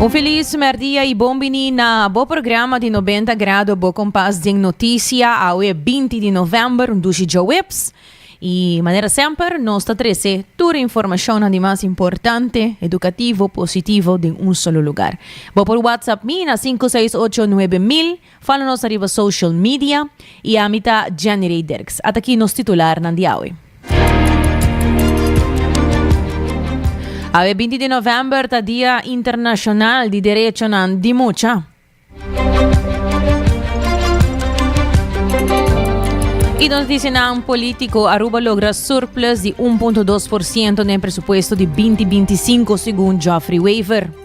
Un feliz merdia y bon bini na bo programa di Nobenta Grado, bo kompas den notisia. Awe binti di november, un dushi djoweps. Y manera semper, nos ta trese tur e informashonnan di mas importante, edukativo, positivo den un solo lugar. Bo por WhatsApp mi na sinku seis ocho nuebe mil. Fala nos ariba social media. Y ami ta Jenny Rey Dirks. At aki nos titularnan di awe. Awe binti di november ta Dia Internashonal di Derechonan di Mucha. Y nos disinan politico, Aruba logra surplus di un punto dos por ciento den presupuesto di binti binti sinku segun Geoffrey Wever.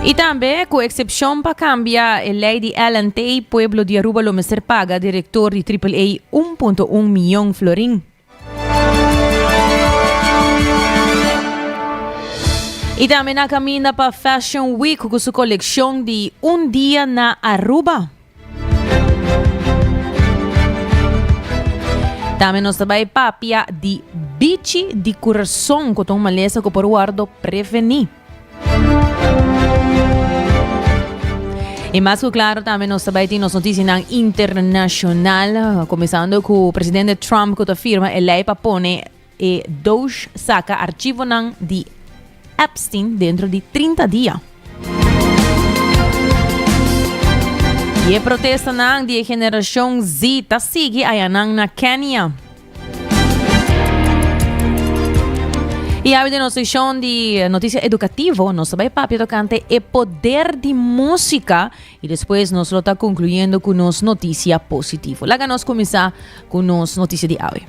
I tambe, ku eksepshon pa kambia e lei di Ellen Tey, pueblo di Aruba lo mester paga direktor di Triple A un punto un miyon florin. I tambe na kaminda pa Fashion Week ku su kolekshon di un dia na Aruba. Tambe nos ta bai papia di bichi di kurason ku ta un malesa ku por wòrdu prevení. I mas ku klaro tambe nos ta bai tin nos notisianan internashonal, kuminsando ku presidente Trump ku ta firma e lei pa pone E Doge saca archivonan di Epstein dentro di trinta dia. Y e protestanan di e generacion Z ta sigui ayanan na Kenia. Y awe den nos seccion di noticia educativo nos ta bay papia tocante e poder di musica I despues nos lo ta concluyendo cu nos noticia positivo. Laga nos cuminsa cu nos noticia di awe.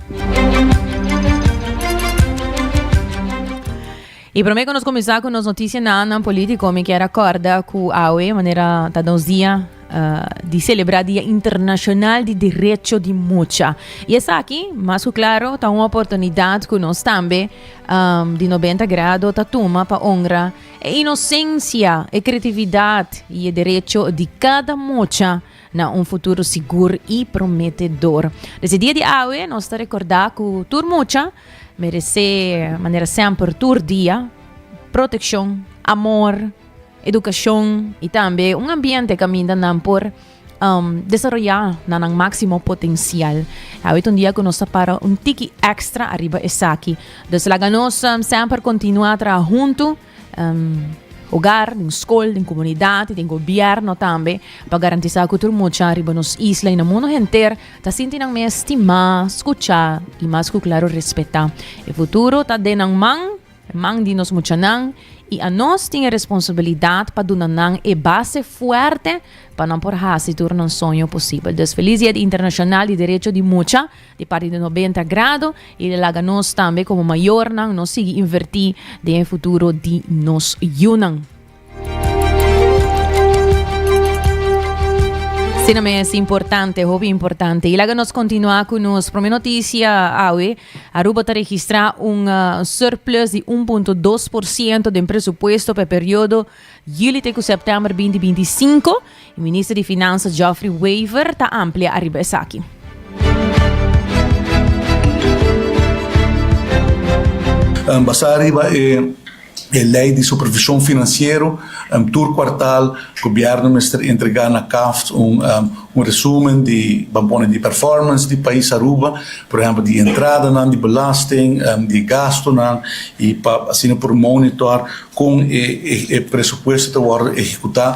I prome cu nos cuminsa cu nos noticia na andan politico, mi kier a corda cu awe, manera ta nos dia uh, di celebra Dia Internacional di Derecho di Mucha. I esaki, mas cu claro, ta un oportunidad cu nos tambe um, di 90 grado ta tuma pa honra E inosensia, e kretividat i e derecho di kada mocha na un futuro sigur i prometedor. Dese dia di awe nos ta rekordá ku tur mocha meresé, manera semper, tur dia, protekshon, amor, edukashon i tambe un ambiente kaminda nan por um, desaroya na nan máximo potencial. Awit un dia ku nos ta para un tiki extra arriba esaki. Dus laga nos um, semper continua tra junto. Um, hogar, din school, din comunidad, din gobierno tambe, pa garantizar ku tur mucha arriba nos isla y na mundo henter ta sinti nan mes estima, escucha y mas ku claro respeta. E futuro ta de nan man, Mannan di nos muchanan i a nos tin e responsabilidat pa duna nan e base fuerte pa nan por hasi tur nan soño posibel. Dus felis Dia di Internashonal di Derecho di Mucha di parti di Nobenta Grado i e laga nos tambe komo mayornan no sigui invertí den e futuro di nos yunan. Asina mes, importante, hopi importante. Y laga nos continua cu nos primer noticia awe. Aruba ta registra un uh, surplus di 1.2% den presupuesto pe periodo juli te cu september 2025. E minister di Finansa Geoffrey Wever ta amplia ariba esaki. Basá riba e Lei di Supervishon Finansiero, tur kuartal gobièrnu mester entregá na CAFT un resúmen di, ban pone di performance di pais Aruba, por ehèmpel di entradanan di belasting, di gastunan, i pa asina por monitor Kon e presupuesto ta wòrdu ehekutá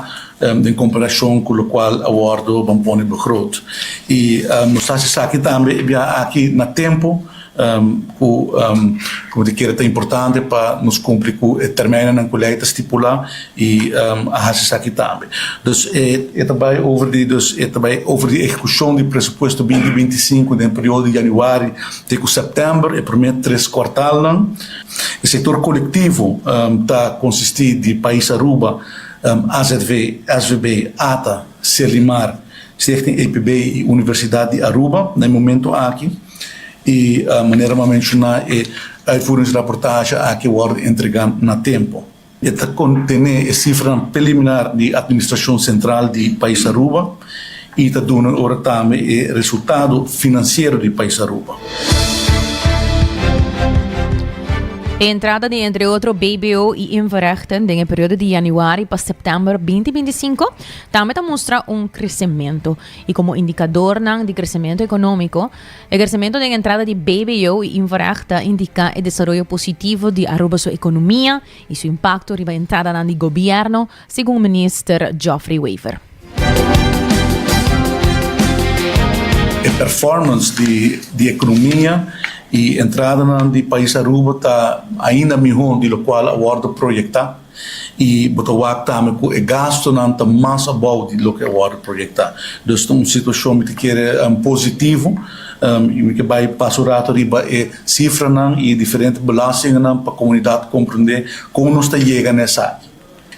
den komparashon ku lokual a wòrdu ban pone begroot? I nos ta hasi esaki tambe e biaha aki na tempu, ku komo te kere ta importante pa nos kumpli ku e tèrminonan ku lei ta stipulá i a hasi esaki tambe. Dus e ta bai over di dus e ta bai over di ehekushon di presupuesto binti binti i sinku den periodo di yanüari te ku sèptèmber, e promé tres kuartalnan. E sektor kolektivo ta konsistí di Pais Aruba, AZV, SVB, ata, Selimar, Stichting APB i Universidat di Aruba na e momentu aki. I manera m'a menshoná e uitvoeringsraportashe aki wòrdu entregá na tempu. E ta contené e cifranan preliminar di Administracion Central di Pais Aruba y ta duna ora tambe e resultado financiero di Pais Aruba. E entrada di entre otro BBO y Inforechten den e periodo di januari pa september 2025 tambe ta mustra un crecemento y como indicadornan di crecemento economico E kersementu den entrada di BBO i Invarag ta indiká e desaroyo positivo di Aruba su ekonomia i su impakto riba entradanan di gobièrnu, segun Minister Geoffrey Wever. E performance di ekonomia i entradanan di pais Aruba ta ainda mihó di lokual a wòrdu proyektá. I bo ta wak tambe ku e gastunan ta mas abou di loke a wòrdu proyektá. Dus ta un situashon mi ta kere positivo i mi ke bai pasa un ratu riba e sifranan i diferente belàstinganan pa komunidat komprondé kon nos ta yega na esaki.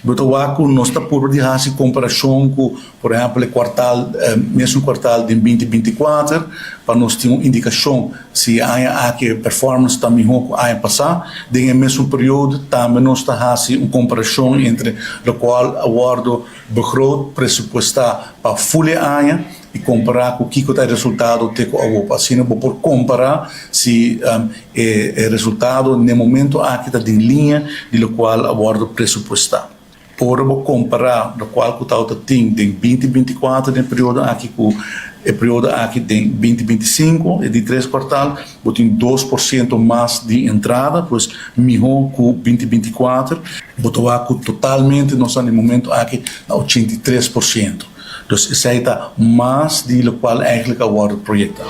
Bo ta wak ku nos ta purba di hasi komparashon ku. Por ehèmpel e kuartal, mesun kuartal den binti binti kuater, pa nos tin un indikashon si e aña aki e performance ta mihó ku aña pasá. Den e mesun periodo tambe nos ta hasi un komparashon entre lokual a wòrdu begroot, presupuestá, pa ful e aña i kompará ku kiko ta e resultado te ku awor. Pa asina bo por kompará si e resultado n'e momentu aki ta den liña di lokual a wòrdu presupuestá. Ora bo kompará lokual ku Tauta tin den binti binti kuater den e periodo aki ku e periodo aki den binti binti sinku, e di tres kuartal, bo tin dos por siento mas di entrada, pues mihó ku binti binti kuater. Bo ta wak ku totalmente nos ta den e momento aki na ochenta i tres por siento. Dus esei ta mas di lokual eigentlik a wòrdu proyektá.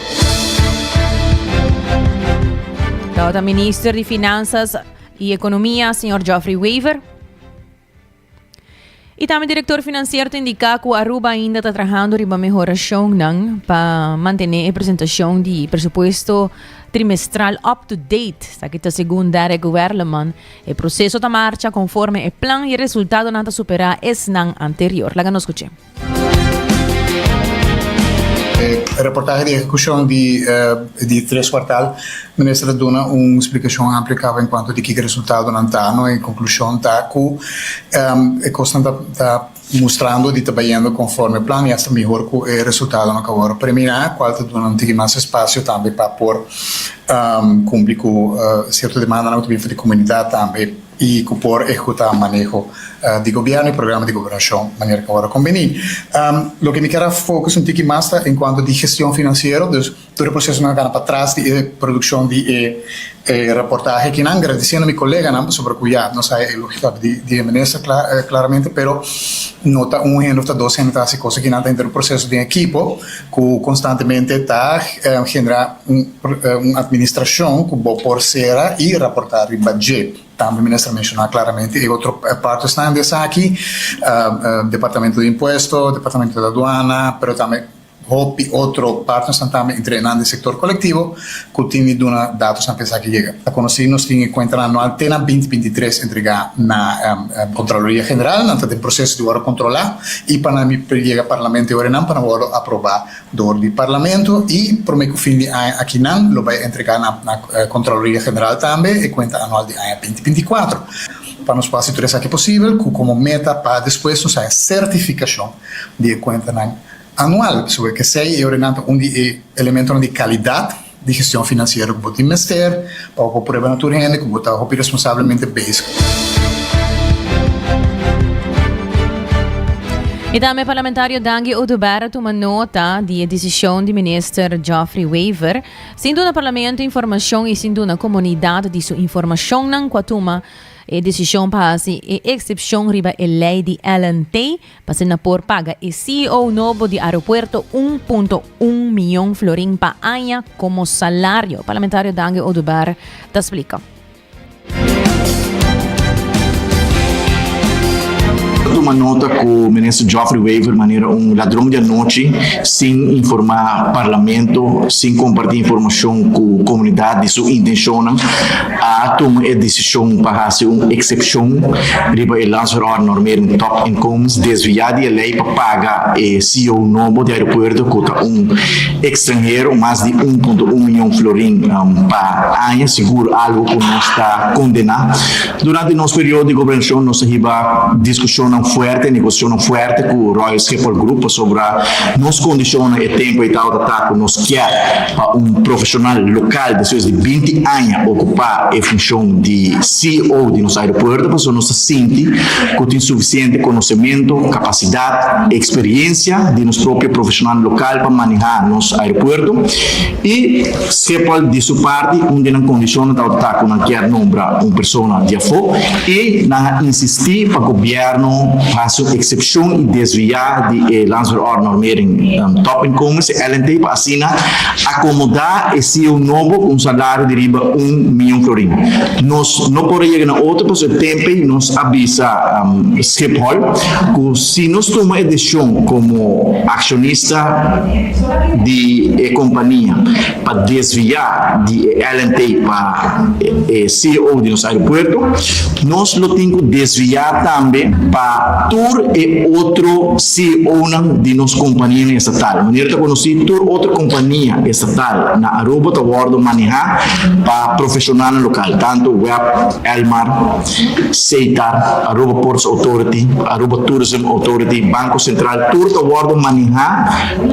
Tauta Minister di Finansas i Ekonomia, señor Geoffrey Wever. Y tambe director financiero ta indica cu Aruba ainda ta trabajando riba mehoracionnan pa mantener e presentacion di presupuesto trimestral up to date. Sa que ta segun Derek Werleman, e proceso ta marcha conforme e plan y e resultadonan ta supera esnan anterior. Laga nos scuche. Reportahe di ehecucion di di tres cuartal, Minister a duna un splicacion amplia caba en cuanto di kico e resultadonan ta, no? E conclusion ta cu e cosnan ta ta mustrando di ta bayendo conforme plan y hasta mihor cu e resultadonan cu awor a premina, cual ta duna un tiki mas espacio tambe pa por cumpli cu cierto demandanan cu ta bini for di comunidad tambe. i ku por ehekutá maneho di gobièrnu i programa di gobernashon manera ku ora kombini. Loke mi ker a fokus un tiki mas ta en kuanto di gestion finansiero, dus tur e prosesonan a kana pa tras di e produkshon di e raportahe akinan, agradisiendo mi koleganan pasobra ku ya nos haya e lógika di e minister klaramente, pero no ta un hende òf ta dos hende ta hasi kos akinan, ta henter un proseso den ekipo ku konstantemente ta generá. Un administrashon ku bo por sera i raportá riba dje. Tambe mi mester menshona klaramente e otro partes nan di esaki, Departamentu di Impuesto, Departamentu di Aduana, pero tambe hopi otro partnersnan tambe, entre nan di sektor kolektivo, ku tin di duna datosnan pa esaki yega. Ta konosí nos tin e kuentanan anual te na binti binti tres entregá na Kontraloria General, nan ta den proseso di wòrdu kontrolá i pa nan yega Parlamento e ora nan pa nan wòrdu aprobá dor di Parlamento i prome ku fin di aña akinan lo bai entregá na Kontraloria General tambe e kuenta anual di aña binti binti kuater pa nos por hasi tur esaki posibel ku komo meta pa despues nos haña sertifikashon di e kuentanan anual pasobra esei e orenan ta un di e elementonan di kalidat. di gestion financiero cu bo tin mester pa bo por prueba na tur hende cu bo ta hopi responsablemente bezig. Y tambe Parlamentario Dangi Oduber a tuma nota di e decision di Minister Geoffrey Wever, sin duna Parlamento informacion y sin duna comunidad di su informacionnan cu a tuma e decision pa haci e excepcion riba e ley di Ellen Tey, pa si na por paga e CEO nobo di aeropuerto un punto un miyon florin pa aña komo salario, parlamentario Dange Oduber ta splika. Ta tuma nota ku Minister Geoffrey Wever manera un ladron di anochi sin informá Parlamento, sin kompartí informashon ku komunidat di su intenshonan. a tuma e desishon pa hasi un eksepshon riba e Lanserotnormering Top Inkomens desviá di e lei pa paga e ceo nobo di aeropuerto ku ta un ekstranhero mas di un punto un mion florin pa aña, sigur algu ku nos ta kondená. Durante nos periodo di gobernashon nos a hiba diskushonnan fuerte, negosiashonnan fuerte ku Royal Schiphol Group pasobra nos kondishonnan e tempu ei tabata ta ku nos kier. Pa un profeshonal lokal despues di binti aña okupá e funshon di CEO di nos aeropuerto pasobra nos ta sinti ku tin sufisiente konosementu, kapasidat, eksperiensia di nos propio profeshonal lokal pa manehá nos aeropuerto i Schiphol di su parti un di nan kondishonnan tabata ta ku nan kier nombra un persona di afó i nan a insistí pa gobièrnu hasi un eksepshon i desviá di e Landsverordenormering Topinkomens, LNT, pa. Asina akomodá e CEO nobo ku un salario di riba un mion florin. Nos no por a yega na otro pasobra e tempe nos a bisa Schiphol ku si nos tuma e desishon komo akshonista di e kompania pa desviá di e LNT pa e CEO di nos aeropuerto, nos lo tin ku desviá tambe pa tur e otro CEOnan di nos kompanianan estatal, manera ta konosí tur otro kompania estatal na Aruba, ta wòrdu manehá pa profeshonalnan lokal, tantu web Elmar, Seitar, Aruba Ports Authority, Aruba Tourism Authority, Banko Sentral, tur ta wòrdu manehá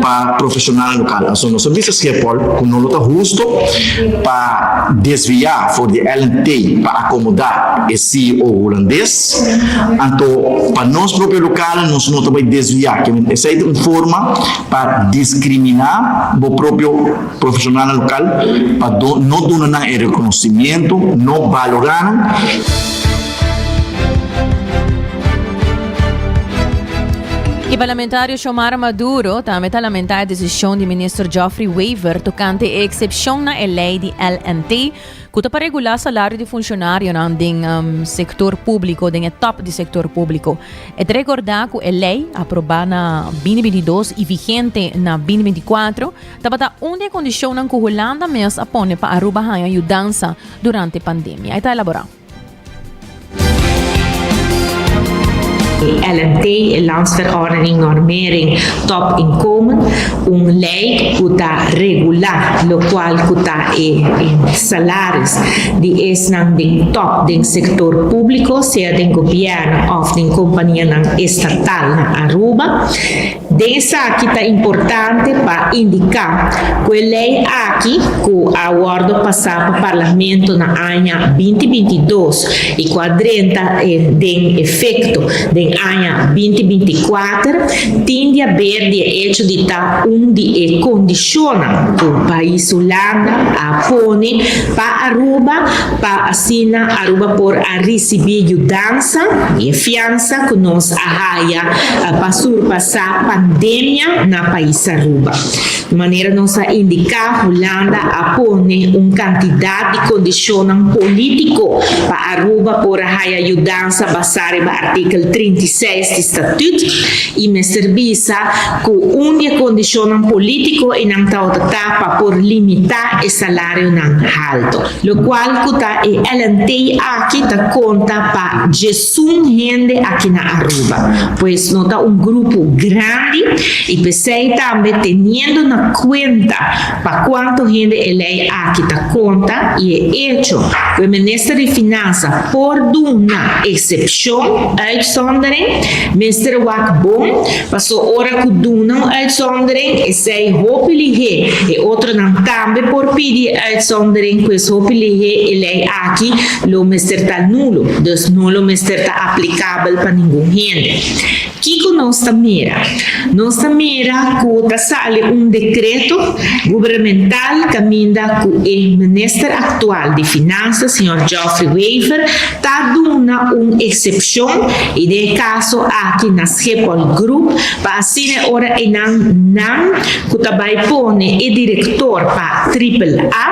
pa profeshonalnan lokal. Pasobra nos a bisa Schiphol ku no lo ta husto pa desviá for di Ellen Tay pa akomodá e CEO hulandes. Anto pa nos propio local nos no ta bai desvia, kende esai ta un forma pa discrimina bo propio profesionalnan local pa no duna nan e reconocimiento, no balora nan. E parlamentario Xiomara Maduro tambe ta lamenta e decision di Minister Geoffrey Wever tocante e excepcion na e ley di LNT, ku ta pa regulá salario di funshonarionan den sektor públiko, den e top di sektor públiko. E ta rekordá ku e lei, aprobá na bini binti dos i vigente na bini binti kuatro, tabata un di e kondishonnan ku Hulanda mes a pone pa Aruba haña yudansa durante pandemia. E ta elaborá. E LNT, e Landsverordening Normering Top Inkomen, un lei ku ta regulá lokual ku ta e salaris di esnan den tòp den sektor públiko, sea den gobièrnu òf den kompanianan estatal na Aruba. Den esaki ta importante pa indiká ku e lei aki, ku a wòrdu pasá pa Parlamento na aña binti binti dos i ku a drenta den efekto den aña binti binti kuater, tin di haber di e echo di ta un di e kondishonnan ku pais Hulanda a pone pa Aruba pa asina Aruba por a risibí yudansa i e fiansa ku nos a haya pa surpasá pandemia na pais Aruba. Di manera nos a indiká, Hulanda a pone un kantidat di kondishonnan polítiko pa Aruba por a haya yudansa basá riba artikel trinta i seis di statüt, i mester bisa ku un di e kondishonnan polítiko i nan tawater ta pa por limitá e salarionan haltu. Lokual ku ta e LNT aki ta konta pa. Sun hende aki na Aruba, pues no ta un grupo grandi y pesey tambe teniendo na cuenta pa cuanto hende e ley aki ta conta y e hecho cu e Minister di Finansa por duna excepcion, uitzondering, mester wak bon, paso ora cu duna un uitzondering esey hopi lihé e otronan tambe por pidi e uitzondering, pues hopi lihé e ley aki Lo mester ta nulo, dus no lo mester ta aplikabel pa ningun hende. Kiko nos ta mira? Nos ta mira ku ta sali un dekreto gubernemental kaminda ku e minister aktual di Finansa, señor Geoffrey Wever, ta duna un eksepshon, i den e kaso aki na Schiphol Group, pa asina e ora einan nan ku ta bai pone e direktor pa Triple A,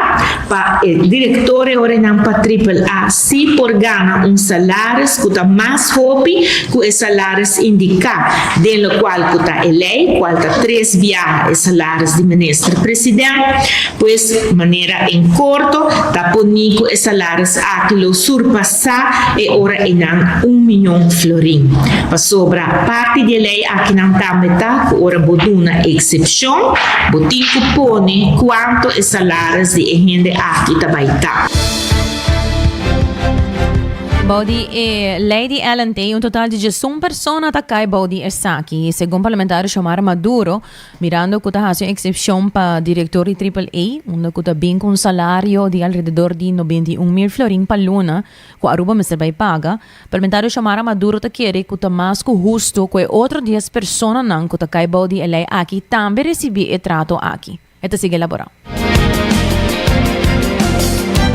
Pa e direktoren ora e nan pa Triple A sí por gana un salaris ku ta mas hopi ku e salaris indiká den lokual ku ta e lei, kual ta tres biaha e salaris di minister president, pues manera en korto ta por ni ku e salaris aki lo surpasá e ora e nan un miñon florin. Pasobra parti di e lei akinan tambe ta ku ora bo duna eksepshon, bo tin ku pone kuantu e salaris di e lei ta. Aris di e hende aki ta bai tap. Bou di e lei di Allen Tay, un total di diesun persona ta kai bou di esaki, segun parlamentario Xiomara Maduro, mirando cu ta haci un excepcion pa director di Triple A, unda cu ta bin cu un salario di alrededor di noventa i un mil florin pa luna, cu Aruba mester bai paga. Parlamentario Xiomara Maduro ta kere cu ta mas cu hustu cu e otro dies personanan cu ta kai bou di e lei aki tambe recibi e trato aki. E ta sigui elaborá.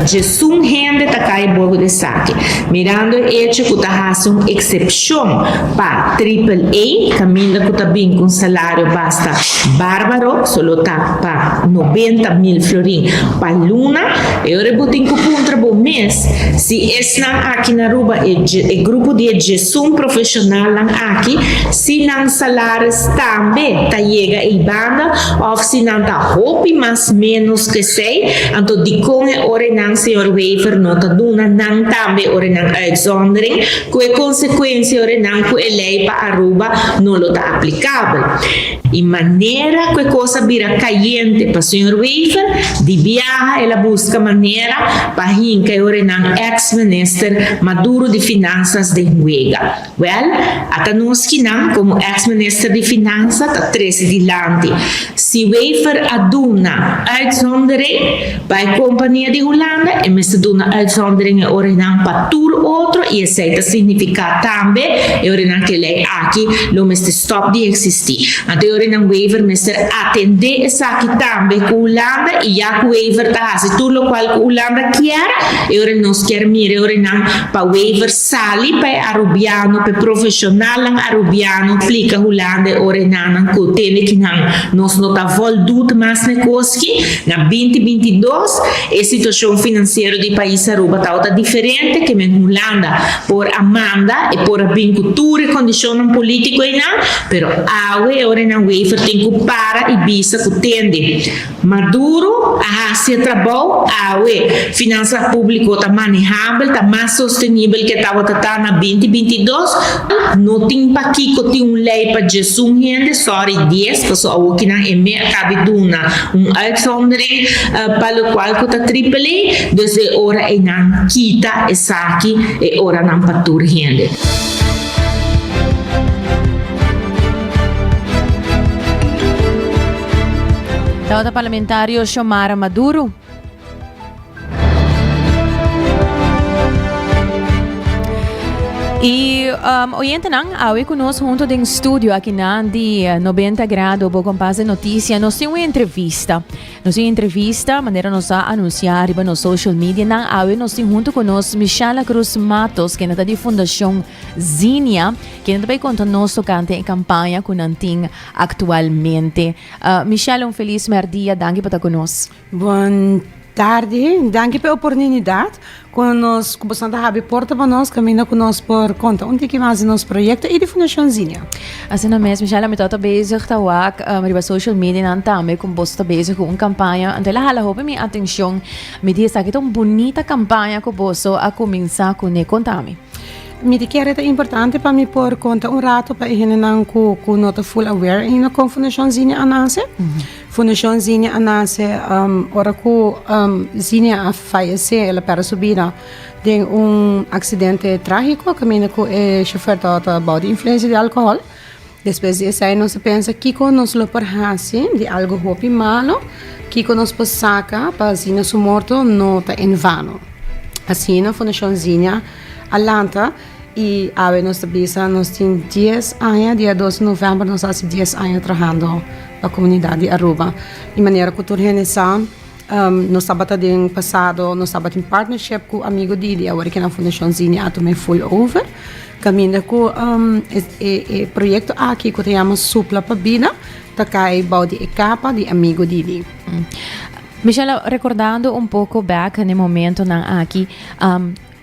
Djesun hende ta kai bobo d'esaki, mirando e echo cu ta haci un excepcion pa Triple A, caminda cu ta bin cu un salario basta barbaro, so lo ta pa noventa mil florin pa luna. E ora bo tin cu puntra bo mes si esnan aki na Aruba, e grupo di e djesun profesionalnan aki, si nan salaris tambe ta yega ei banda Òf si nan ta hopi mas ménos ku esei, anto dikon e orenan señor Wever no ta duna nan tambe orenan uitzondering? Ku e konsekuensia orenan ku e lei pa Aruba no lo ta aplikabel? I manera ku e kos a bira kayente pa señor Wever, di biaha el a buska manera pa hinka e orenan èks minister Maduro di Finansas den huega. Wèl, ata nos kinan komo eks minister di finansa ta trese dilanti. Si Wever a duna uitzondering pa e kompania di Hulanda, e mester duna uitzondering e ora nan pa tur otro i esei ta signifiká tambe e ora nan ke lei aki lo mester stòp di eksistí. Anto e ora nan Wever mester atendé esaki tambe ku Hulanda i ya ku Wever ta hasi tur lokual ku Hulanda kier, e ora nos kier mira e ora nan pa Wever Sali pa e Arubiano, p'e profeshonalnan Arubiano plika hulanda e ora e nannan ku te nekinan nos no ta vòldut mas nekoski. Na binti binti dos, e situashon finansiero di e pais Aruba tabata diferente ke men Hulanda. Por a manda, e por a bin ku tur e kondishonnan polítiko einan, pero awe e ora e nan waiver tin ku para i bisa ku tende. Maduro a hasi e trabou awe. Finansa públiko ta manehabel, ta mas sostenibel ke tabata ta na binti binti i dos. No tin pakiko tin un lei pa djes un hende, sòri dies, paso awor ki nan eme a kabi duna un uitzondering pa lokual ku ta triple. Dus e ora einan kita esaki, e oranan pa tur hende. Tabata Parlamentario Xiomara Maduro. Y um, oyentenan, awe con nos junto den studio aquí na di 90 eh, grado bo compás de noticia. Nos tiene una entrevista. Nos tiene entrevista, manera nos a anunciar arriba nos social media. Nan awe nos tiene junto con nos Michela Cruz Matos, que nata di Fundación Zinia, que nata bay conta nos tocante en campaña con Antin Actualmente. Michelle un feliz mer dia danki por ta cu nos. Bon tardi danki p'e oporninidad cu nos cu boso a habri porta pa nos caminda cu nos por conta un tiki mas di nos proyecto y di Fundacion Zinnia. Asina mes Michelle mi tabata bezig ta wak riba social media nan tambe cu boso ta bezig cu un campaña entonces la hala hopi mi atencion mi di esaki ta un bunita campaña cu boso a cuminsa cune contami. Mi ta kere ta importante pa mi por konta un rato pa e hendenan ku no ta full aware aina kon Fundashon Zinia a nase. Fundashon Zinia a nase ora ku Zinia a fayesé, el a pèrdè su bida den un aksidente trágiko kaminda ku e shofèr tabata bou di influensia di alkohòl. Despues di esei nos a pensa kiko nos lo por hasi di algu hopi malu, kiko nos por saka pa asina su morto no ta en vano. Asina Fundashon Zinnia a lanta i awe nos ta bisa nos tin dies aña, dia dos di novèmber nos hasi dies aña trahando pa komunidat di Aruba. I manera ku tur hende sa. Nos tabata den pasado nos tabatin partnership ku Amigo Didi awor ke nan Fundashon Zini a tuma e full over kaminda ku e proyekto aki ku ta yama Supla pa Bida ta kai bou di e kapa di Amigo Didi. Michella, rekordando un poko bek na e momentonan aki,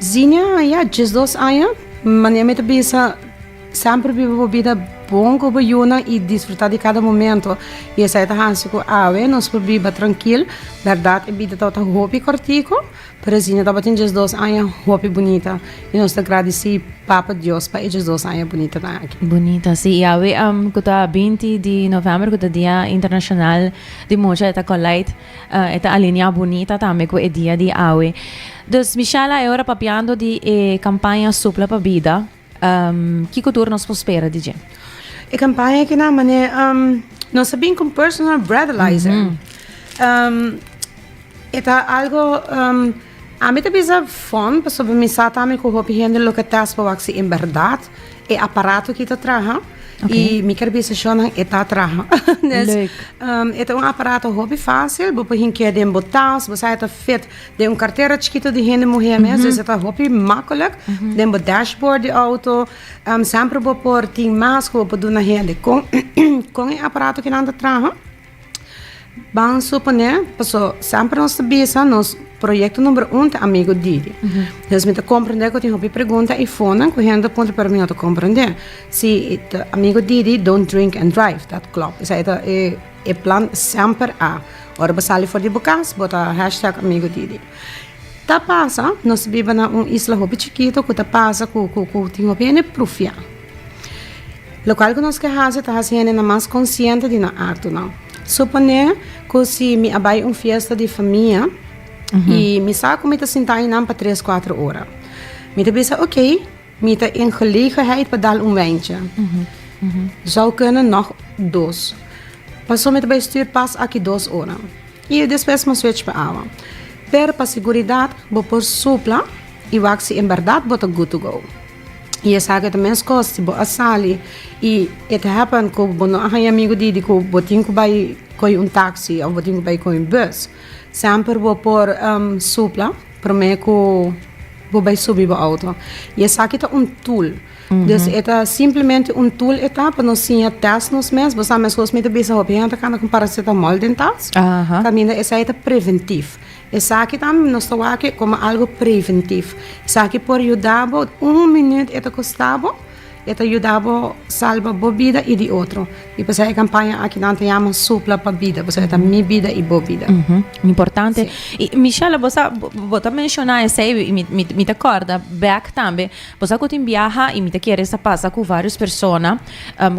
Zinia, Ya diesdos aña. Manera mi ta bisa, semper biba bo bida bon ku bo yunan i disfrutá di kada momento. I esei ta hasi ku awe nos por biba trankil. Bèrdat, e bida tabata hopi kòrtiku, pero Zinia tabatin diesdos aña hopi bunita. I nos ta gradisí Papa Dios pa e diesdos aña bunitanan aki. Bunita, sí. I awe ku ta binti di novèmber, ku ta Dia Internashonal di Mucha, e ta kòlait. E ta alineá bunita tambe ku e dia di awe. Dus Michela, e ora papiando di e kampaña Supla pa Bida, kiko tur nos por spera di dje? E kampaña aki na manera nos a bin ku un personal breathalyzer. E ta algo. Ami ta bisa fon pasobra mi sa ta mi cu hopi hende lo ke test pa wak si en berdad e aparato aki ta traha y mi ker bisa sho nan e ta traha Des e ta un aparato hopi facil bo por hink'e den bo tas bo sa e ta fit den un cartera chikito di hende muhe mes Des e ta hopi makkelijk den bo dashboard di auto semper bo por tin mas cu bo por duna hende con con e aparato aki nan ta traha. Ban suponé, paso semper nos ta bisa nos proyekto number un ta amigo Didi. Entonces mi ta komprendé ku tin hopi pregunta i fonan ku hende puntra pero mi no ta komprendé. Si amigo Didi don't drink and drive, dat klòp. Esei e ta e plan semper a. Ora bo sali for di bo kas bo ta hashtag amigo Didi. Ta pasa, nos biba na un isla hopi chikitu ku ta pasa ku tin hopi hende prufia. Lokal ku nos ke hasi ta hasi hendenan mas konsiente di nan aktunan. Suponé ku si mi a bai un fiesta di famia i mi sa ku mi ta sinta ei nan pa tres kuatro ora. Mi ta bisa oké, mi ta in gelegenheid pa dal un weintje. Zou kende nog dos. Paso mi ta bai stuur pas aki dos ora. I despues mi switch pa awa. Pero pa seguridat bo por supla i wak si en bèrdat bo ta good to go. Y esaki ta mescos si bo a sali y it happen cu bo no a haya amigo di cu bo tin cu bay coge un taxi of bo tin cu bay coge un bus, semper bo por supla prome cu bo bay subi bo auto. Y esaki ta un tool. Dus e ta simplemente un tool e ta pa nos siña test nos mes. Bo sa mescos mi ta bisa hopi hende a cana con paracetamol den tas, caminda esaki ta preventief. Esaki ta nos ta wak como algo preventivo. Esaki por yuda bo un minuut e ta costa bo, e ta yuda bo salba bo bida y di otro. Y p'esei e campaña aki nan ta yama Supla pa bida, p'esei ta mi bida y bo bida. Importante. Y Michelle, bo sa, bo ta menciona esei y mi, mi ta corda back tambe, bo sa cu tin biaha y mi ta kere sa pasa cu varios persona,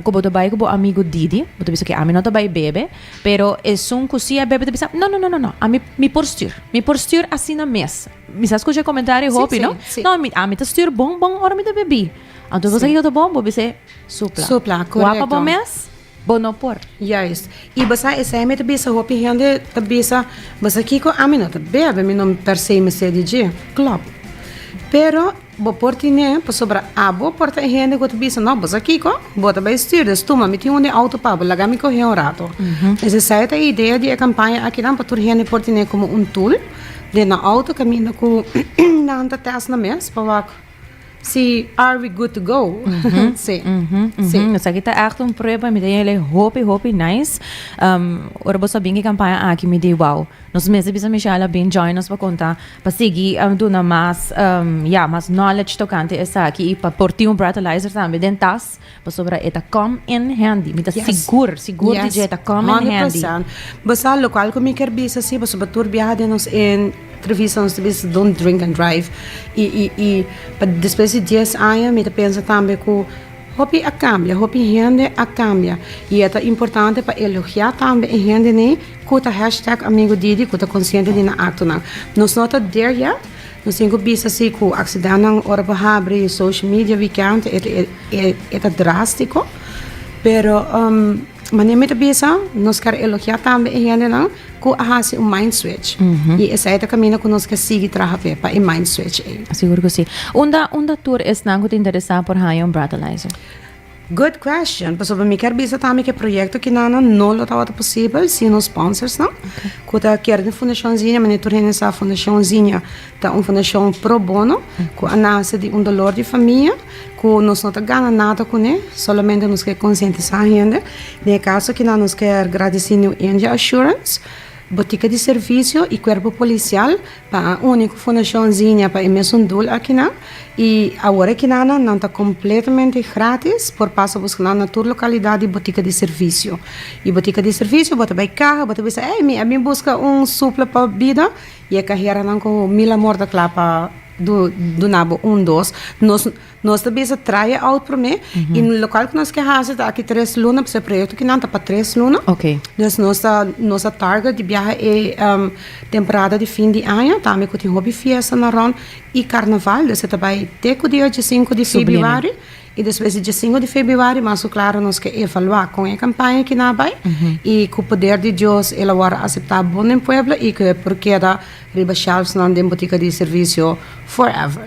cu bo ta bay cu bo amigo Didi, bo ta bisa, ok, ami no ta bay bebe. Pero esun ku si a bebe ta bisa, No, no, no, no, no, ami, mi por stuur. Mi por stuur asina mes. Mi sa skucha e komentario e hopi, no? Sí, sí. No, mi, ami ta stuur bon, bon ora mi ta bebí. Anto bo sa kiko ta bon? Bo bisa, Supla. Supla, korekto. Kua pa bo mes, bo no por. Juist. I bo sa esei mi ta bisa, hopi hende ta bisa, Bo sa kiko? Ami no ta bebe, mi no per se mester di dje. Klopt. Pero. Bo por tine, pasobra abo por ta e hende ku ta bisa, No, bo sa kiko? Bo ta bai stuur, des tuma, mi tin un den outo pa bo, laga mi kohe un rato. Es esei ta e idea di e kampaña akinan, pa tur hende por tine komo un tool den nan outo kaminda ku nan ta tèst nan mes pa wak si are we good to go. Sí. Sí. Esaki ta ègt un prueba, mi ta yele hopi, hopi nice. Ora bo sa bin e kampaña aki, mi di wou. Nos mester bisa Michelle a bin join nos pa konta, pa sigui duna mas, ya, mas knowledge tokante esaki i pa por tin un breathalyzer tambe den tas, pasobra e ta come in handy. Mi ta sigur, sigur di dje e ta come in handy. Yes, honde percent. Bo sa lokual ku mi kier bisa si? Pasobra tur biaha den nos entrevista nos ta bisa don't drink and drive. I, i, i pa despues di dies aña mi ta pensa tambe ku. Hopi a cambia, hopi hende a cambia y e ta importante pa elogia tambe e hende ne cu ta hashtag amigo Didi cu ta consciente di nan actonan. Nos no ta der yet, nos tin cu bisa si cu accidentnan ora bo habri social media weekend e ta drastico pero. Manera mi ta bisa, nos ker elogiá tambe e hendenan ku a hasi un mind switch. I esei ta kaminda ku nos ke sigui traha fe pa e mind switch ei. Sigur ku si. Unda unda tur esnan ku ta interesá por haña un breathalyzer? Good question. Pasobra mi ker bisa tambe ku e proyekto kinana no lo tabata posibel sin nos sponsorsnan ku ta Kierden Fundashon Ziña. Manera tur hende sa, Fundashon Ziña. Ta un fundashon pro bono ku a nase di un dolor di famia ku nos no ta gana nada kuné, solamente nos ke konsientisá hende. Den e kaso kina nos ker gradisí New India Assurance, Botika di Servisio i Kuerpo Polisial pa a uni ku Fundashon Zinnia pa e mesun dul aki nan. I awor e kinanan nan ta kompletamente gratis por pasa buskanan na tur lokalidat di Botika di Servisio. I Botika di Servisio bo ta bai kaha, bo ta bisa, Ei mi a bin buska un supla pa bida Y e cajeranan cu mil amor ta cla pa duna bo un dos. Nos, nos ta bisa try e out prome y local cu nos ke haci ta aki tres luna pasobra e proyecto aki nan ta pa tres luna. Okay. Dus nos ta, nos ta target di biaha e temporada di fin di aña tambe cu tin hopi fiestanan rond y carnaval. Dus e ta bay te cu dia dje sinku di febiuari. I despues di diessingu di febrüari mas ku klaru nos ke evaluá kon e kampaña aki na bai i ku poder di Dios el a wòrdu aseptá bon den pueblo i ku e por keda riba shèlfsnan den butika di servisio forever.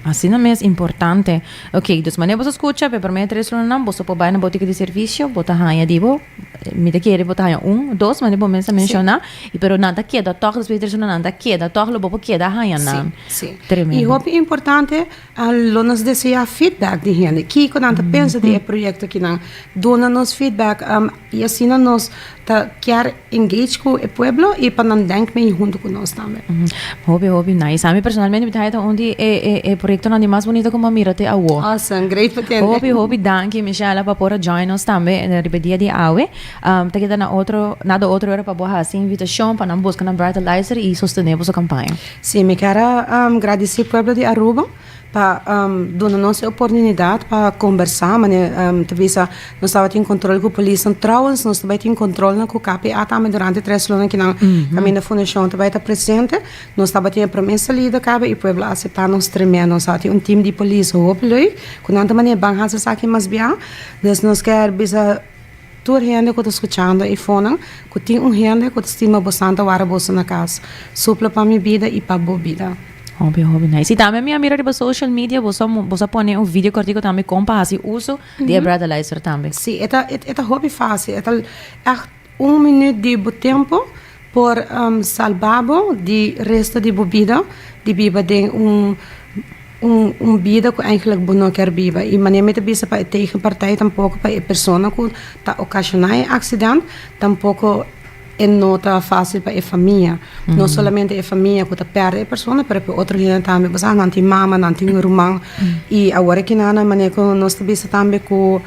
Asina mes importante. Oke, dus manera boso skucha, p'e promé tres lunanan boso por bai na butika di servisio, bo ta haña di bo, mi ta kere bo ta haña un, dos, manera bo mes a menshoná, i pero nan ta keda tòg despues di tres lunanan, nan ta keda tòg, lo bo por keda haña nan. Tremendo. I hopi importante. A Lo nos deseá feedback di hende. Kiko nan ta pensa di e proyekto aki nan? Duna nos feedback i asina nos ta kier engage ku e pueblo i pa nan denk mei huntu ku nos tambe. Hopi hopi nice. Ami personalmente mi ta haña ta un di e e e proyektonan di mas bunito ku mi a mira te awor. Awesome, great pa tende. Hopi hopi danki Michella pa por a join nos tambe riba e dia di awe. Ta keda na otro nada otro wèr pa bo hasi invitashon pa nan buska nan Brighter Luister i sostené boso kampaña. Si mi ker a gradisí pueblo di Aruba pa duna nos e oportunidat pa kombersá manera ta bisa nos tabatin kontrol ku polisnan tròwens nos ta bai tin kontrolnan ku KPA tambe durante tres luna kinan kaminda fundashon ta bai ta presente nos tabatin e promé salida kabe i pueblo a aseptá nos tremendo nos tabatin un tim di polis hopi lo'i ku nan ta manera ban hasi esaki mas biaha nos ker bisa. Tur hende ku ta skuchando e fonan, ku tin un hende ku ta stima bo santa wara boso na kas, supla pa mi bida i pa bo bida. Hopi hopi nice. Y tambe mi a mira riba social media boso a boso a pone un video cortico tambe con pa haci uso di e Breathalyzer tambe. Sí, e ta e ta hopi fácil, e ta ègt un minüt di bo tempo. Por salbá bo di resto di bo bida di biba den un un bida ku eigenlik bo no kier biba. I manera mi ta bisa pa e tegenpartij tampoko pa e persona ku ta okashoná e aksident tampoko e no ta fásil pa e famia. No solamente e famia ku ta pèrdè e persona pero p'e otro hende tambe. Bo sa nan tin mama, nan tin ruman i awor e kina nan manera ku nos ta bisa tambe ku.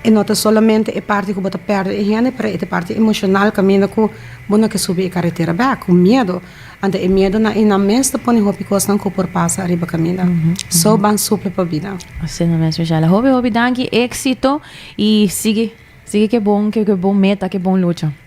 E no ta solamente e parti ku bo ta pèrdè e hende pero e ta e parti emoshonal kaminda ku bo no ke subi e karetera bèk ku miedu anto e miedunan i nan mes ta pone hopi kosnan ku por pasa ariba kaminda so ban sufri pa bida. Asina mes mi Shela hopi hopi danki éksito i sigui sigui ke bon ke bon meta ke bon lucha.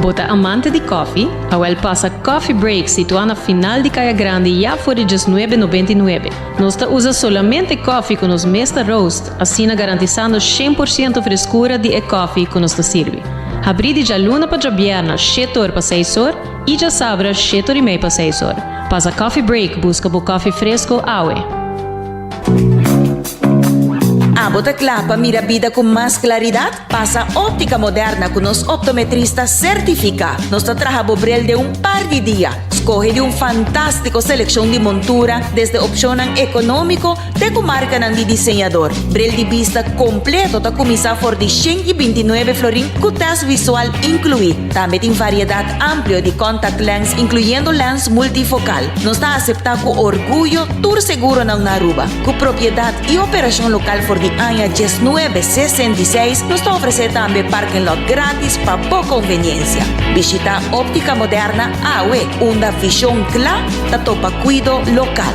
Bo ta amante di kòfi? Awèl pasa Coffee Break situá na final di Kaya Grandi ya for di diesnuebe nobenta i nuebe. Nos ta usa solamente kòfi ku nos mes ta roast, asina garantisando shen por siento freskura di e kòfi ku nos ta sirbi. Habrí di djaluna pa djabièrna shete or pa seis or i djasabra shete or i mei pa seis or. Pasa Coffee Break buska bo kòfi fresko awe. Abo ta kla pa mira bida ku mas klaridat? Pasa Optica Moderna ku nos optometrista sertifiká. Nos ta traha bo bril den un par di dia. Skohe di un fantástiko selekshon di montura, desde opshonnan ekonómiko te ku markanan di diseñador. Bril di bista kompleto ta kuminsá for di shen i binti nuebe florin ku tèst wisual inkluí. Tambe tin variedat amplio di contact lens incluyendo lens multifocal. Nos ta acepta cu orguyo tur seguronan na Aruba. Cu propiedad y operacion local for di aña diesnuebe sesen di seis nos ta ofrece tambe parking lot gratis pa bo conveniencia. Bishita Optica Moderna awe unda vision cla ta topa cuido local.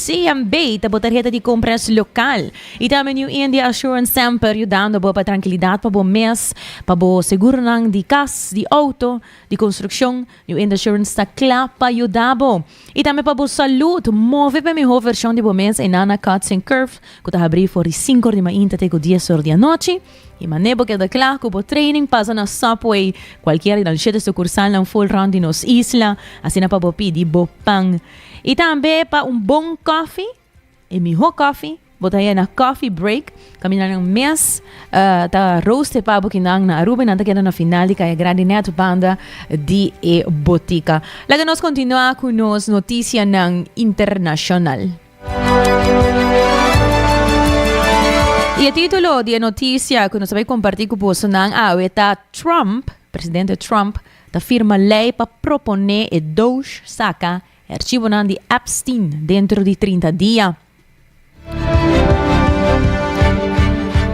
CMB ta bo tarheta di compras local y tambe New India Assurance semper yudando bo pa trankilidad pa bo mes, pa bo seguronan di cas, di auto, di construccion, New India Assurance ta cla pa yuda bo. Y tambe pa bo salud, move pa e miho version di bo mes Enana Cuts and Curves cu ta habri for di cinco or di mainta te cu dies or di anochi y mane bo keda cla cu bo training pasa na Subway cualkier di nan shete sucursalnan full rond di nos isla, asina pa bo pidi bo pan. I tambe pa un bon kòfi, e mihó kòfi, bo ta haña na Coffee Break, kaminda nan mes ta rooste pa bukinan na Aruba i nan ta keda na final di Kaya Grandi nèt banda di e botika. Laga nos kontinuá ku nos notisianan internashonal. I e título di e notisia ku nos ta bai kompartí ku bosonan awe ta Trump, Presidente Trump ta firma lei pa proponé e Doge saka e archibonan di Epstein dentro di trinta dia.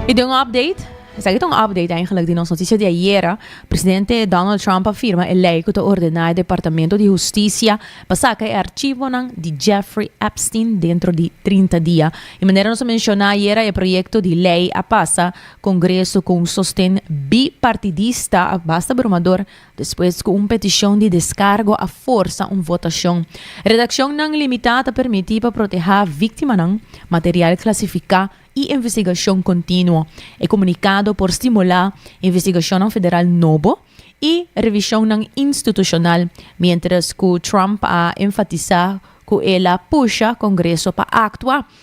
Y den un update, esaki ta un update eigenlijk di nos noticia di ayera, Presidente Donald Trump a firma e lei cu ta ordena e Departamento di Husticia pa saka e archibonan di Jeffrey Epstein dentro di trinta dia. Y manera nos a menciona ayera e proyecto di lei a pasa Congreso cu un sosten bipartidista a basta bromador despues cu un peticion di descargo a forsa un votacion. Redaccionnan limita ta permiti pa proteha victimanan, material clasifica y investigacion continuo. E comunicado por stimula investigacionnan federal nobo y revisionnan institucional, mientras cu Trump a enfatisa cu el a pusha Congreso pa actua.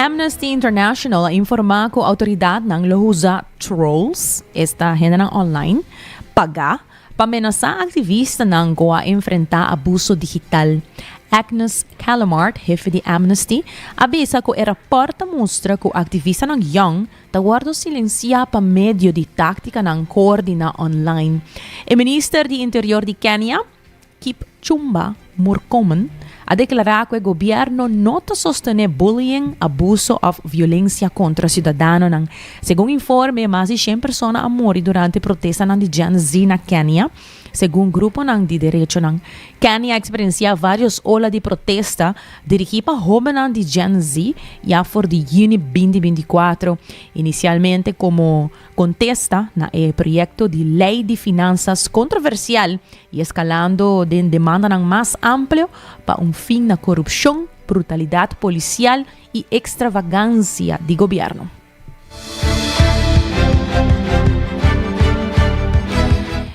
Amnesty International a informá ku outoridatnan lo usa trolls, esta hendenan online, pagá pa menasá aktivistanan ku a enfrentá abuso digital. Agnes Callamard, hefe di Amnesty, a bisa ku e rapòrt ta mustra ku aktivistanan yòn ta wòrdu silensiá pa medio di táktikanan koordiná online. E minister di Interior di Kenia, Kip Chumba Murkomen a deklará ku e gobièrnu no ta sostené bullying, abuso òf violensia kontra siudadanonan. Segun informe, mas di shen persona a muri durante protestanan di Gen Z na Kenia, segun gruponan di derechonan. Kenia a eksperensiá vários ola di protesta dirigí pa hóbennan di Gen Z ya for di yüni binti binti kuatro, inisialmente komo. Contesta na e proyecto di Ley di Finanzas controversial y escalando den demandanan mas amplio pa un fin na corupcion, brutalidad policial y extravagancia di gobierno.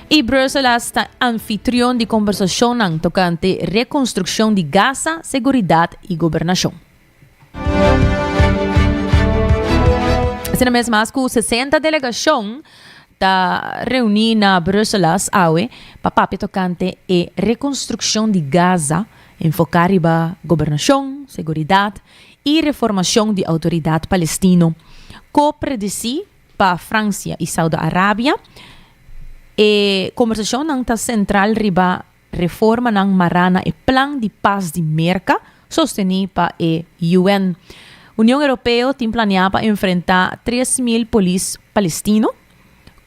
Y Bruselas ta anfitrion di conversacionnan tocante reconstruccion di Gaza, seguridad y gobernacion. Asina mes mas ku sesenta delegashon ta reuní na Bruselas awe pa papia tokante e rekonstrukshon di Gaza enfoká riba gobernashon, seguridat i reformashon di outoridat palestino. Ko-predisí pa Fransia i Saudi Arabia, e kombersashonnan ta sentral riba. Reformanan mará na e Plan di Pas di Merka, sostené pa e UN. Union Europeo tin planeá pa enfrentá tres mil polis palestino,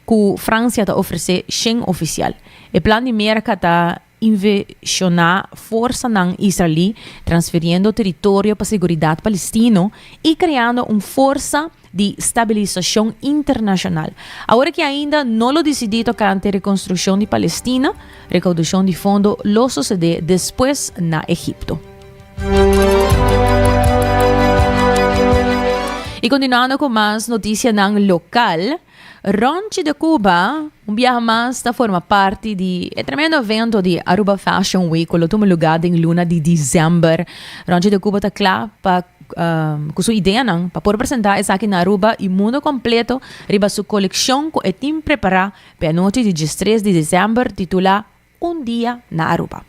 ku Fransia ta ofresé shen ofisial. E plan di Merka ta inveshoná forsanan israelí, transfiriendo teritorio pa seguridat palestino i kreando un forsa di stabilisacion internacional. Awor aki ainda no lo dicidi tocante reconstruccion di Palestina, recaudacion di fondo lo socede despues na Egipto. Y continuando cu mas noticianan local. Rònchi de Cuba, un biaha mas ta forma parti di e tremendo evento di Aruba Fashion Week cu lo tuma lugá den luna di diciember. Rònchi de Cuba ta cla pa cu su ideanan pa por presentá esaki na Aruba i mundo completo riba su coleccion cu e tin prepará p'e anochi di diestres di diciember titulá Un dia na Aruba.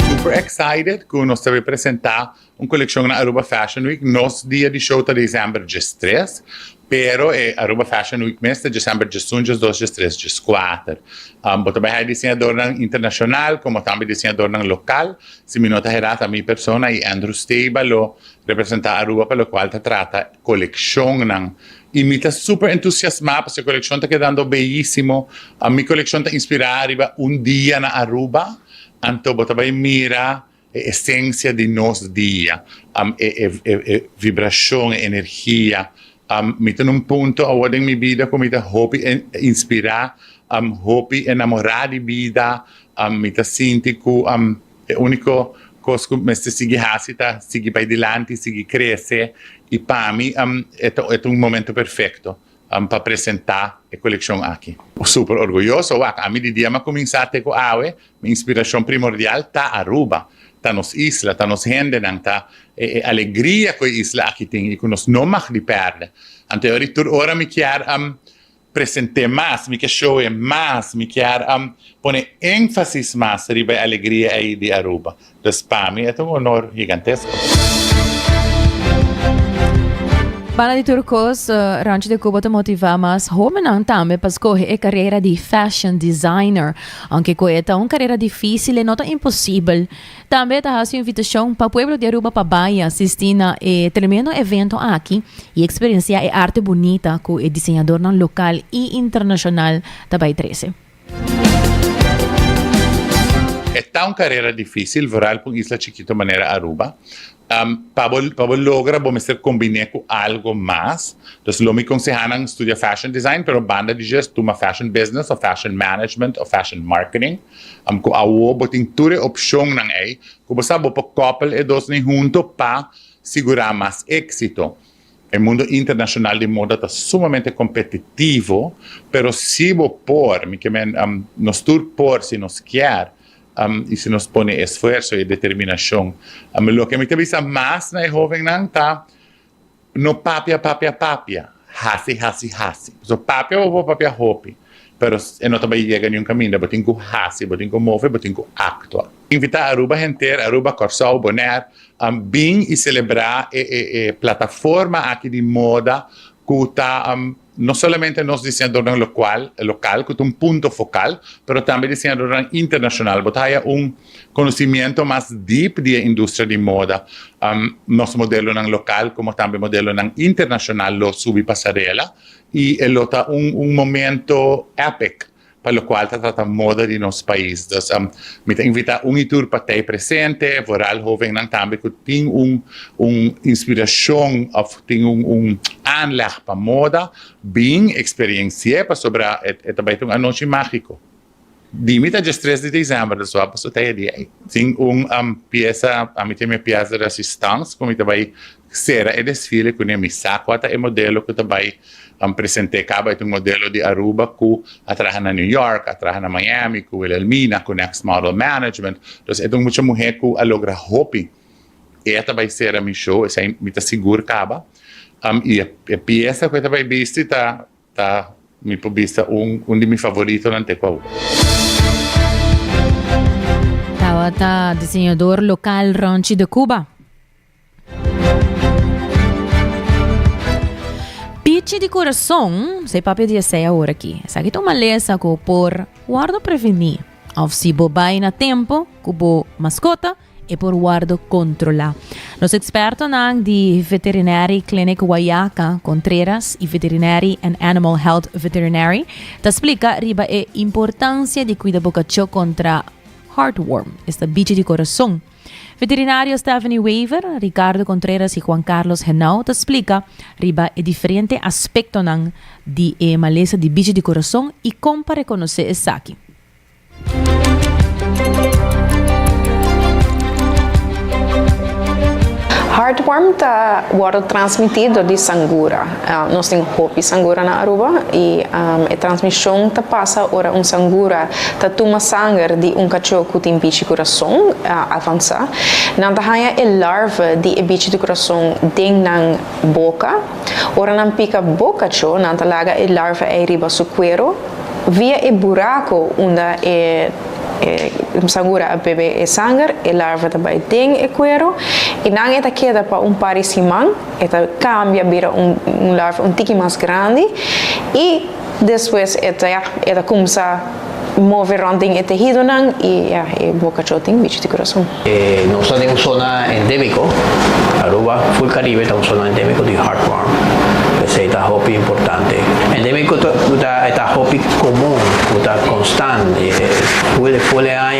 Super excited cu nos ta bai presenta un coleccion na Aruba Fashion Week. Nos dia di show ta December djes tres, pero e Aruba Fashion Week mes ta December djes un, djes dos, djes tres, djes cuater. Bo ta bai haya diseñadornan internacional como tambe diseñadornan local. Si mi no ta hera ta mi persona y Andrew Steba lo representa Aruba pa locual ta trata coleccionnan Y mi ta super entusiasma pasobra e coleccion ta kedando beyisimo. Mi coleccion ta inspira riba un dia na Aruba, anto bo ta bay mira e esencia di nos dia, e vibracion, e energia. Mi ta na un punto awo den mi bida cu mi ta hopi inspira, hopi enamora di bida, mi ta sinti cu E úniko kos ku mester sigui hasi ta sigui bai dilanti, sigui krese, i pa mi e ta un momentu perfekto pa presentá e kolekshon aki. Super orguyoso wak ami di dia mi a kuminsá te ku awe, mi inspirashon primordial ta Aruba, ta nos isla, ta nos hendenan, ta e alegria ku e isla aki tin i ku nos no mag di pèrdè. Anto e ora i tur ora mi kier. present'é mas, mi ke show'é mas, mi kier a pone énfasis mas riba e alegria ei di Aruba. Entonces pa mi e ta un onor higantesko. Banda di tur kos, Rancho de Cuba ta motivá mas hómbennan tambe pa skohe e karera di Fashion Designer. Ounke ku e ta un karera difísil, e no ta imposibel. Tambe ta hasi un invitashon pa pueblo di Aruba pa bai a sisti na e tremendo evento aki i eksperensiá e arte bunita ku e diseñadornan lokal i internashonal ta bai trese. E ta un karera difísil, vooral pa un isla chikito manera Aruba. Pa bo pa bo logra bo mester kombiné ku algo mas. Dus lo mi konsehá nan studia fashion design, pero banda di dje tuma fashion business òf fashion management òf fashion marketing. Am cu awo bo tin tur e opcionnan ey cu bo sa bo por koppel e dos nen hunto pa sigura mas exito. E mundo internacional di moda ta sumamente competitivo, pero si bo por, mi ke men nos tur por si nos kier y si nos pone e esfuerzo y e determinacion. Loke mi ta bisa mas na e hovennan ta No papia papia papia, hasi hasi hasi. Pasobra papia bo por papia hopi, pero e no ta bai yega niun kaminda. Bo tin ku hasi, bo tin ku move, bo tin ku aktua. Invitá Aruba henter, Aruba, Kòrsou, Bonèr, bin i selebrá e plataforma aki di moda ku ta No solamente nos diseñadornan locual, local, cu ta un punto focal, pero tambe diseñadornan internacional. Bo ta haya un conocimiento mas diep di e industria di moda. Um, nos modelonan local como tambe modelonan internacional lo subi pasarela y e lo ta un, un momento epic. pa lokual ta trata moda di nos pais. Dus mi ta invitá un i tur pat'ei presente, vooral hovennan tambe ku tin un inspirashon òf tin un aanleg pa moda, bin eksperiensi'é pasobra e ta bai ta un anochi mágiko. Di mi ta djes tres di desèmber, dus wòrdu paso ta e dia ei. Tin un piesa, mi tin mi pies di resistans ku mi ta bai Sera e desfile kuné mi sa kua ta e modelo ku ta bai present'é kaba e ta un modelo di Aruba ku a traha na New York, a traha na Miami ku Wilhelmina ku Next Model Management. Entonces e ta un mucha muhé ku a logra hopi. E a ta bai sera mi show, esei mi ta sigur kaba. I e piesa ku e ta bai bisti ta ta mi por bisa un un di mi favoritonan te ku awe. Tabata diseñador lokal Ronchi de Cuba. Pichi di corazon, sa e papia di esei ahora aki. Esaki ta un malesa cu por wordo preveni, of si bo bai na tempo cu bo mascota, e por wordo controla. Nos expertonan di Veterinary Clinic Guayaca, Contreras, y Veterinary and Animal Health Veterinary ta splica riba e importancia di cuida bo cacho contra heartworm, esta bichi di corazon. Veterinario Stephanie Wever, Ricardo Contreras i Juan Carlos Henao ta splika riba e diferente aspektonan di e malesa di bichi di kurason i kon pa rekonosé esaki. Heartworm ta wòrdu transmití dor di sangura. Nos tin hopi sangura na Aruba y e transmision ta pasa ora un sangura ta tuma sanger di un cacho cu tin bichi curason avansa. Nan ta haya e larva di e bichi di curason den nan boca. Ora nan pica bo cacho nan ta laga e larva ey riba su cuero via e buraco unda e sangura a bebe e sanger, e larva ta bay den e cuero y nan e ta keda pa un par di siman. e ta cambia bira un un larva un tiki mas grandi y despues e ta ya e ta cumsa move rond den e tehidonan y ya e boca cho tin bichi di corazon. Nos ta den un zona endemico, Aruba, full Caribe ta un zona endemico di heartworm, p'esey ta hopi importante. Endemico ta cu ta e ta hopi comun, cu ta constant, full full e aña.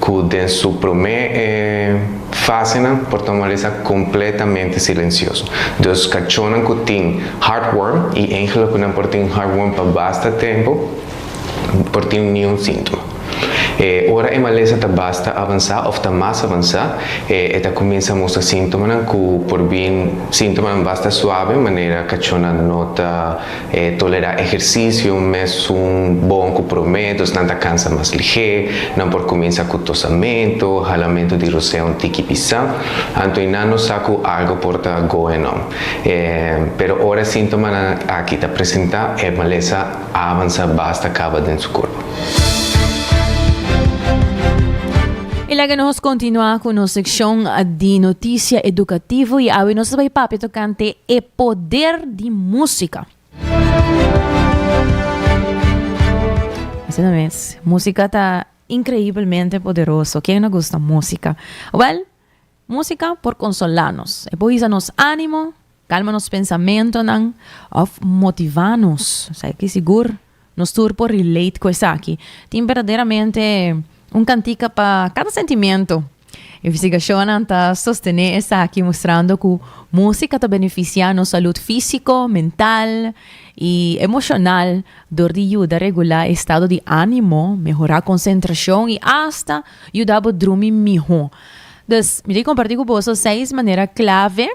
cu den su prome e fasenan por tomalesa completamente silencioso. Dus cachonan cu tin heartworm y engele cu nan por tin heartworm pa basta tempo por tin niun sintoma. E ora e malesa ta basta avansa of ta mas avansa e e ta cuminsa mustra sintomanan cu por bin sintomanan basta suave manera cachonan no ta E tolera ehersisio mesun bon ku promé, dus nan ta kansa mas lihé. Nan por kuminsá ku tosamentu, halamentu di rosé un tiki pisá. Anto einan no sa ku algu por ta goenon. Pero ora e síntomanan aki ta presentá, e malesa a avansá basta kaba den su kurpo. I laga nos kontinuá ku nos sekshon di notisia edukativo i awe nos ta bai papia tokante e Poder di música. Asina mes, música ta increiblemente poderoso. Ken no gusta música? Wel, música por consola nos. E por hisa nos ánimo, calma nos pensamentonan of motiva nos. Sa e ki sigur. Nos tur por relate cu esaki. Tin berdaderamente un cantica pa cada sentimento. Investigacionnan ta sostene esaki mostrando cu musica ta beneficia nos salud fisico, mental y emocional dor di yuda regula e estado di animo, mehora concentracion y hasta yuda bo drumi miho. Dus mi ta comparti cu boso seis manera clave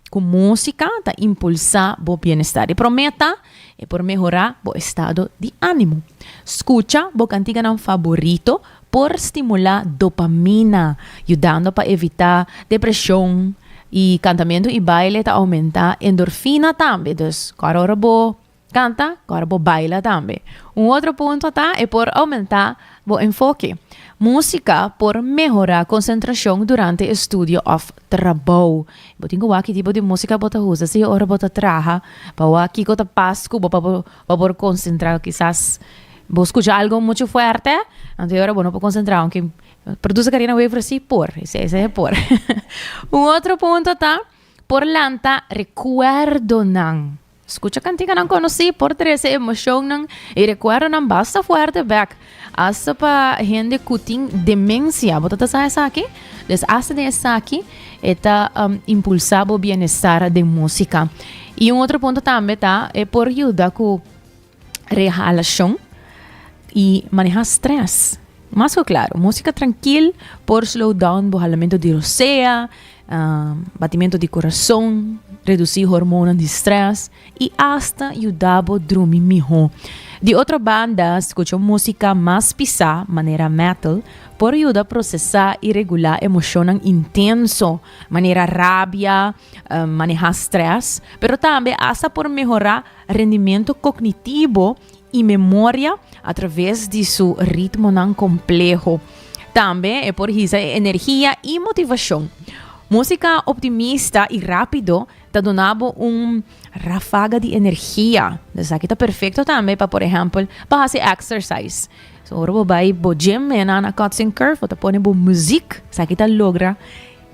ku músika ta impulsá bo bienestar. E promé ta e por mehorá bo estado di ánimo. Skucha bo kantiganan faborito por stimulá dopamina, yudando pa evitá depreshon. I kantamentu i baile ta oumentá endorfina tambe. Dus kòrda ora bo Canta, cor bo baila tambe. Un otro punto ta e por aumenta bo enfoke. Musica por mehora concentracion durante estudio of trabou. Bo tin cu wak ki tipo di musica bo ta usa si ora bo ta traha pa wak kico ta pas cu bo pa bo por concentra. Kisas bo scucha algo mucho fuerte anto e ora bo no por concentra aunke produce carina wever si por esei e por. Un otro punto ta por lanta recuerdonan. Skucha kantikanan konosí por trese emoshonnan i rekuerdonan basta fuerte bek, asta pa hende ku tin demensia. Bo ta ta sa esaki? Des asta den esaki e ta um, impulsá bo bienestar den músika. I un otro punto tambe ta e por yuda ku Rehalashon i manehá strès. Mas ku klaru, músika trankil por slow down bo halamentu di rosea, batimentu di kurason, redusí hormonan di strès i asta yuda bo drumi mihó. Di otro banda, skucha un músika mas pisá, manera metal, por yuda prosesá i regulá emoshonnan intenso, manera rabia, manehá strès, pero tambe asta por mehorá rendimentu kognitibo i memoria atraves di su ritmonan kompleho. Tambe e por hisa e energia i motivashon. Músika optimista i rápido ta duna bo un ráfaga di energia. Esaki ta perfekto tambe pa por ehèmpel pa hasi èksersais. So ora bo bai bo gym, mena na Kotzing Curve, bo ta pone bo muzik. Esaki ta logra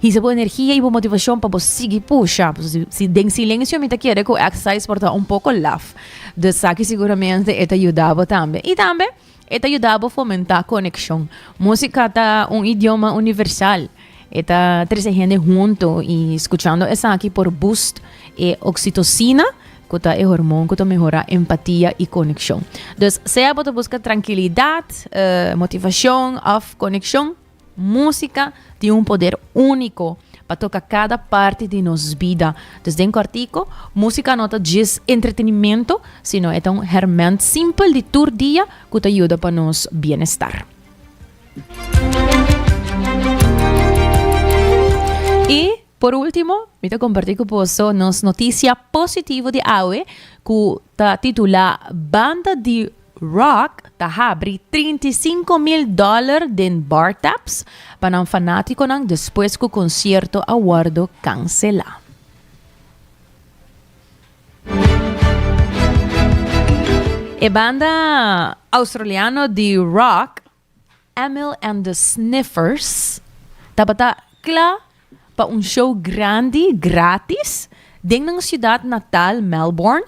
Hisa bo energia i bo motivashon pa bo sigui pusha. Si den silensio mi ta kere ku exercise por ta un poko laf. Dus esaki siguramente e ta yuda bo tambe. I tambe e ta yuda bo fomentá konekshon. Músika ta un idioma universal. E ta trese hende huntu i skuchando esaki por boost e oksitosina ku ta e hormon ku ta mehorá empatia i konekshon. Dus sea bo ta buska trankilidat, motivashon òf konekshon, Músika tin un poder úniko pa toka kada parti di nos bida. Dus den kòrtiku, músika no ta djis entretenimentu, sino e ta un hèrmènt simpel di tur dia ku ta yuda pa nos bienestar. I. Por ultimo, mi ta comparti cu boso nos noticia positivo di awe cu ta titula Banda di Rock ta habri trinta i sinku mil dollar den Bar Taps pa nan fanaticonan despues cu concierto a wordo cancela. E banda Australiano di Rock Emil and the Sniffers tabata kla pa un show grandi gratis den nan siudat natal Melbourne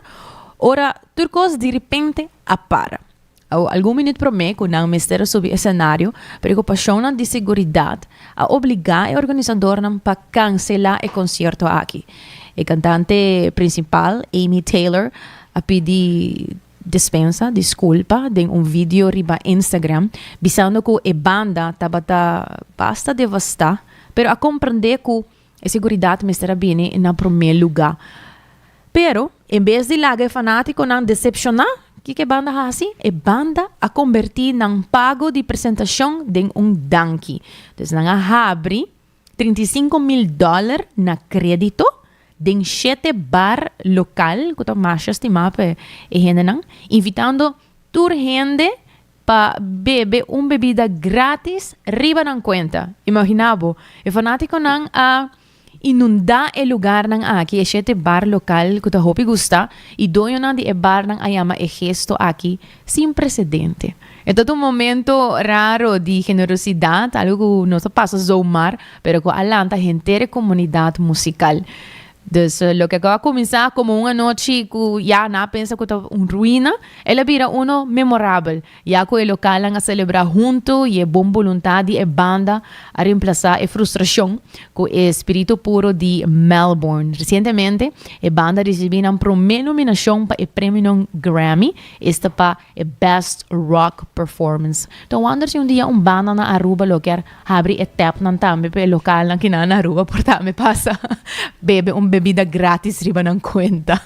ora tur kos direpente a para. Awo algun minüt promé ku nan mester a subi esenario, preokupashonnan di seguridat a obligá e organisadornan pa kanselá e konsierto aki. E kantante prinsipal, Amy Taylor, a pidi Dispensa disculpa den un video riba Instagram bisando cu e banda tabata basta devasta pero a comprende cu e seguridad mester a bini na prome luga. Pero en bes di laga e fanaticonan decepciona, kico e banda haci? E banda a converti nan pago di presentacion den un danki. Dus nan a habri trinta i sinku mil dòler na krédito den shete bar lokal ku ta masha stimá pa e hendenan, invitando tur hende pa bebe un bebida grátis riba nan kuenta. Imaginá bo, e fanátikonan a inundá e lugarnan aki, e shete bar lokal ku ta hopi gustá, i doñonan di e barnan a yama e gesto aki, Sin presedente. E tot un momento raro di generosidad, algo cu no ta pasa zomar, pero cu a lanta henter e comunidad musical. Dus loke cu a cuminsa como un anochi cu ya nan a pensa cu ta un ruina, el a bira uno memorabel, ya cu e localnan a celebra hunto y e bon boluntad di e banda a remplaza e frustracion cu e spirito puro di Melbourne. Recientemente e banda a ricibi nan prome nominacion pa e premionan Grammy, Esta pa e Best Rock Performance. Ta wonder si un dia un banda na Aruba lo kier habri e tepnan tambe pa e lokalnan ki nan na Aruba por tambe pasa bebe un bebida gratis riba nan kuenta.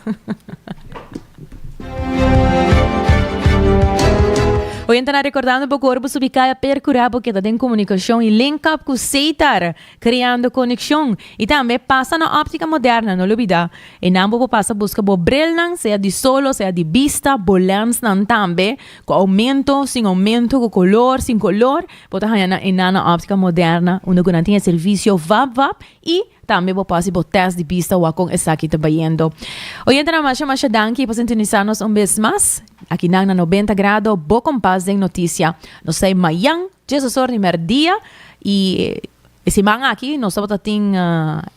Oyentenan, recordando bo cu ora bo subi caya percura bo keda den comunicacion y link up cu Ceitar. Creando Conexion y tambe pasa na Optica Moderna, no lo bida enan bo por pasa busca bo brilnan sea di sol o sea di bista, bo lensnan tambe cu aumento, sin aumento, cu color, sin color, bo ta haya nan enan na Optica Moderna unda cu nan tin e servicio vap vap y tambe bo por haci bo test di bista wak con esaki ta bayendo. Oyentenan masha masha danki pa sintonisa nos un bes mas, aki nan na Noventa Grado bo compas den noticia. Nos ta e mayan. Dje su primer dia y e siman aki nos tabata tin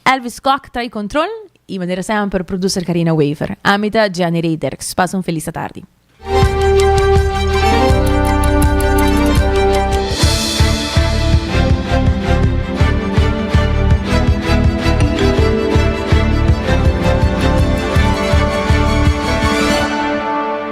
Elvis Kok trae control y manera semper producer Carina Wever. Ami ta Jenny Rey Dirks. Pasa un feliz atardi.